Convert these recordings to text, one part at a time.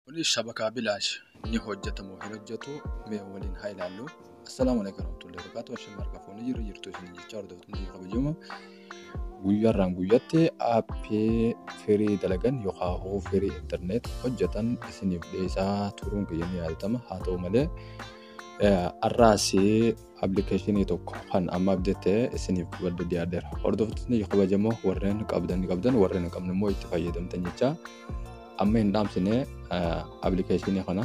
Kuni shabakaa bilaash ni hojjeta moo hin hojjetu mee waliin haa ilaallu. Assalaamu alaikum warahmatullahi wabarakatuh. Ashamaa harka fuunee jirra jirtu isin jechaa hordoftoota biyya kabajamoo. Guyyaarraan guyyatti aappii firii dalagan yookaan hoo firii intarneet hojjetan isiniif dhiyeessaa turuun kiyya ni yaadatama. Haa ta'u malee har'aas appilikeeshinii tokko kan amma abdate isiniif badda dhiyaadheera. Hordoftoonni kabajamoo warreen qabdan qabdan warreen hin qabne immoo itti fayyadamtan jechaa. Amma hin dhaamsine appilikeeshinii kana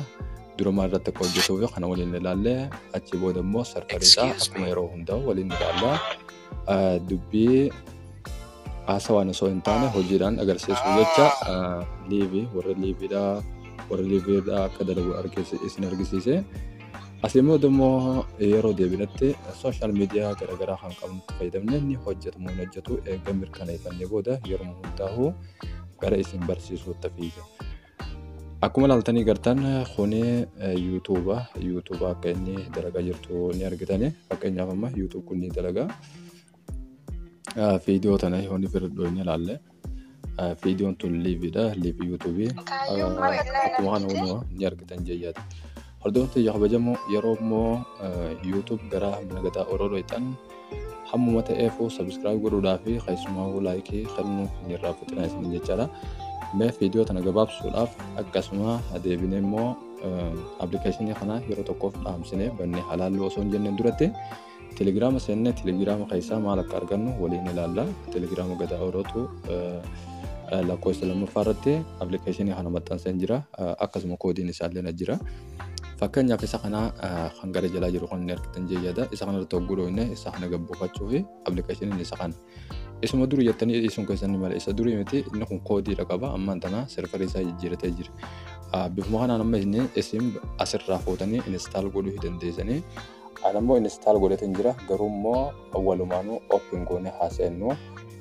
durumaa irratti akka hojjetuuf kana waliin ilaallee achi booda immoo sarfariidha akkuma yeroo hundaa waliin ilaalla. Dubbii haasawaan osoo hin taane hojiidhaan agarsiisuu jecha liivii warra liiviidha warra liiviidha akka dalagu isin argisiise. Asii booda immoo yeroo deebinetti sooshaal miidiyaa garaagaraa kan qabnu fayyadamne ni hojjetamu hin hojjetu eega mirkaneeffannee booda yeroo hundaa'u gara isin barsiisuutti fiiga. Akkuma ilaaltanii gartan kuni yuutuuba yuutuuba akka inni dalagaa jirtu ni argitani fakkeenyaaf amma yuutuub kun ni dalagaa viidiyoo tana yoonni firidhoo inni ilaalle viidiyoon tun liiviidha liivii yuutuubii akkuma kana hunuma ni argitan jeeyyaati. Hordoftoota kiyya kabajamoo yeroo immoo YouTube gara mana gadaa Oroo dhoyxan hammuma ta'eefuu subscribe godhuudhaa fi keessumaa laayikii kennuu hin irraanfatinaa isin jechaadha. Mee viidiyoo tana gabaabsuudhaaf akkasuma deebinee immoo appilikeeshinii kana yeroo tokkoof dhaamsinee bannee halaallu osoo hin jenneen duratti Telegiraama seennee telegiraama keessaa maal akka argannu waliin ilaalla. Telegiraama gadaa orootu lakkoofsa lammaffaa irratti appilikeeshinii kana maxxanseen jira. Akkasuma koodiin isaallee na jira. Fakkeenyaaf isa kana kan gara jalaa jiru kan inni argitan jeeyyaadha. Isa kana irratti hogguu dhooyne isa kana gabbuufachuu fi appilikeeshiniin isa kana. Isuma duri jettanii dhiisuun keessan ni mala. Isa durii miti inni kun koodiidha qaba. Ammaan tana serverii isaa jijjiiratee jira. Ah, Bifuma kanaan amma isin isin asirraa fuutanii install godhuu hin dandeessanii. Ani immoo install godhateen jira. Garuu immoo walumaanuu open goonee haasa'ennu.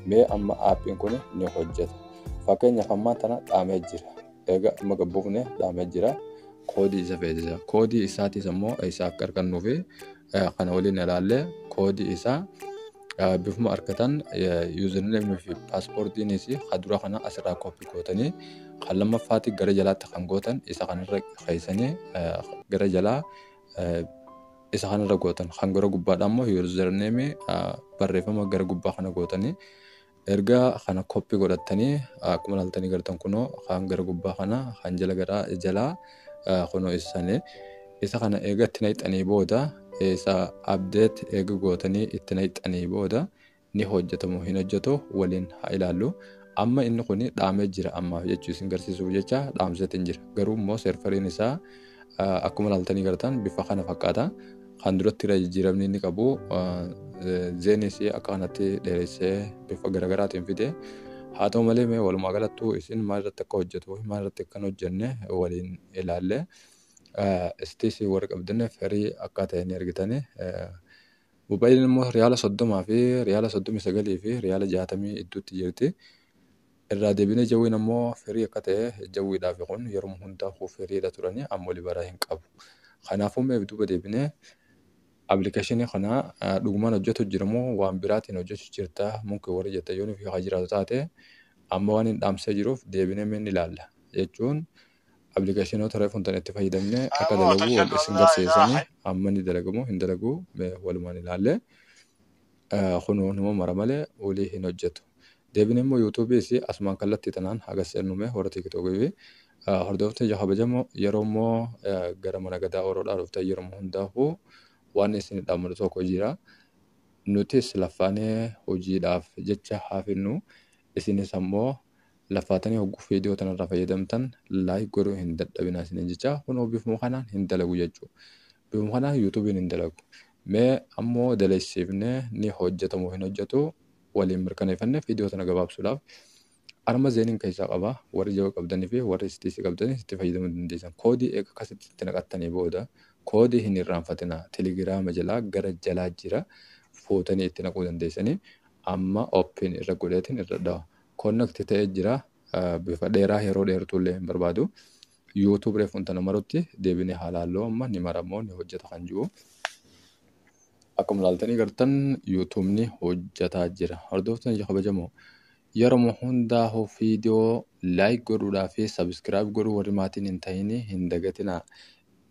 Mee amma aappiin kun ni hojjeta. Fakkeenyaaf ammaan tana dhaamee jira. Egaa amma gabbuufne dhaamee jira. Koodii isa feesisa. Koodii isaatis immoo isa akka argannuufi kana waliin ilaalle koodii isaa bifuma argatan yuuzerneemii fi paaspoortiinis kan dura kana asirraa koppii gootanii kan lammaffaatti gara jalaatti kan gootan isa kanarra keessanii gara jalaa isa kanarra gootan kan gara gubbaadha immoo yuuzerneemii barreeffama gara gubbaa kana gootanii Erga kana copy godhattani akkuma laltani gartan kuno kan gara gubba kana kan jala gara jala kuno isa sani isa kana eega itti naqxani booda isa update eega gootani itti naqxani booda ni hojjetamu hin hojjetu waliin haa ilaallu. Amma inni kun dhaamee jira ammaaf jechuu isin garsiisuuf jecha dhaamseetiin jira garuu immoo serveriin isaa Akkuma ilaaltanii gartaan bifa kana fakkaata. Kan duratti irra jijjiiramni inni qabu zeenis akka kanatti dheeressee bifa garaagaraatiin fide. Haa ta'u malee mee walumaa galattuu isin maal irratti akka hojjetu maal irratti akka hin hojjenne waliin ilaalle. Istiis warri qabdanne firii akka ta'e ni argitani. Mobaayiliin immoo riyaala soddomaa fi riyaala soddomii sagalii fi riyaala jaatamii idduutti jirti. Irraa debine jawwin ammo firii akka ta'e jawwii dhaafi kun yeruma hunda hu firiidha turani amma oli baraa hin qabu kanaafu meef duba debine application kana dhuguman hojjatu jira mo waan biraatin hojjachu jirta munkin warri jettan yoo nufi ha jiraatu taate amma waan hin dhaamsee jiruuf deebine me ni laalla jechuun applicationota reefun tan itti fayyadamne akka dalagu wal isin garsiisani amma ni dalagamo hin dalagu me walumaan ilaalle kunoo numa mara male wali hin hojjatu Debine immoo youtube isii asumaan kallattii tanaan haga seennu mee warra tiktok fi hordoftoota tiyya kabajamoo yeroo immoo gara mana gadaa oroodhaa dhuftan yeruma hundaafuu waan isin dhaamanu tokko jira nutis laffaanee hojiidhaaf jecha haafinnu isinis ammoo laffaatanii hogguu viidiyoo tanarraa fayyadamtan like godhuu hin dadhabinaa isiniin jecha kunoo bifuma kanaan hin dalagu jechuu bifuma kanaan youtubiin hin dalagu mee ammoo daleessiifnee ni hojjetamoo hin hojjetu waliin mirkaneeffanneef idoo tana gabaabsuudhaaf arma zeeniin keessaa qaba warri jawa qabdanii fi warri STC qabdanii itti fayyadamuu dandeessan koodii eega akkasitti itti naqattanii booda koodii hin irraanfatinaa telegiraama jalaa gara jalaa jira fuutanii itti naquu dandeessanii amma open irra godheetiin irra dhawa connect ta'ee jira bifa dheeraa yeroo dheertuullee hin barbaadu You tube reef wanta namarutti deebine haa laalluu amma ni maramoo ni hojjeta kan jiru akkuma laaltanii gartan yuutuubni hojjetaa jira hordoftan ija kabajamoo yeroma hundaa'u viidiyoo laayik godhuudhaa fi sabiskiraayib godhuu warri maatiin hin ta'in hin dagatinaa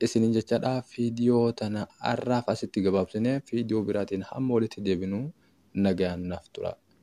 isinin jechadha viidiyoo tana har'aaf asitti gabaabsine viidiyoo biraatiin hamma walitti deebinu nagayaan naaf tura.